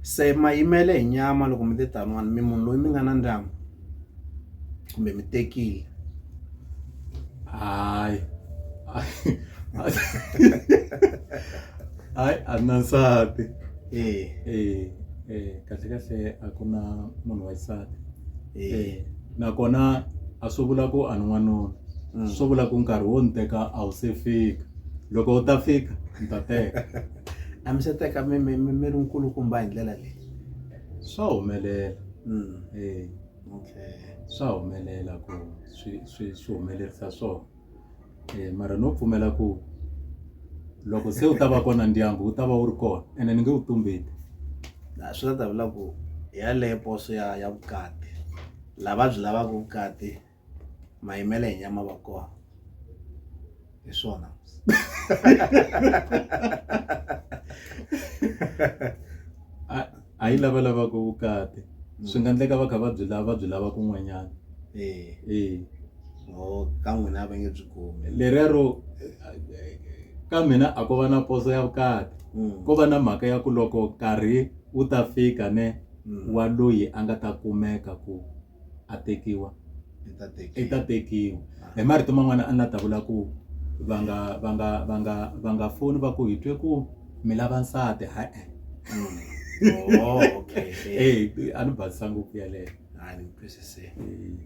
Se ma yimele hi nyama loko mi te taniwani mi munhu loyi mi nga na ndyangu kumbe mi tekile hayi hayi a na nsati e e e kahle kahle a ku na munhu wa xisati e nakona a swi vula ku a ni n'wanuna swo vula ku nkarhi wo ni teka a wu se fika loko u ta fika ni ta teka. a mi se teka mi mi mi mi ri nkulukumba hi ndlela leyi swa humelela mm. eh, okay. swa humelela ku swi swi swi humelerisa swona eh, mara no pfumela ku loko se u ta va kona ndyangu wu ta va wu ri kona ene ni nge wu tumbeti swi ta ta vula ku yaleyo poso ya ya vukati lava byi lavaka vukati mayimele hi nyama va kona hi swona a yi lava lavaka vukati mm. swi nga endleka va kha va byi lava va byi lava kun'wanyana eh. eh. ka n'wina va nge byi kumi leriya ro ka mina a ko va na poso ya vukati mm. ko va na mhaka ya ku loko nkarhi wu ta fika ne mm. wa loyi a nga ta kumeka ku a tekiwa i ta tekiwa hi marito man'wana a ni la ta vula ku va nga va nga va nga va nga foni va ku hi twe ku mi lava nsati ha e mm. oh, okay. hey, a ni basisa ngopfu yeleyo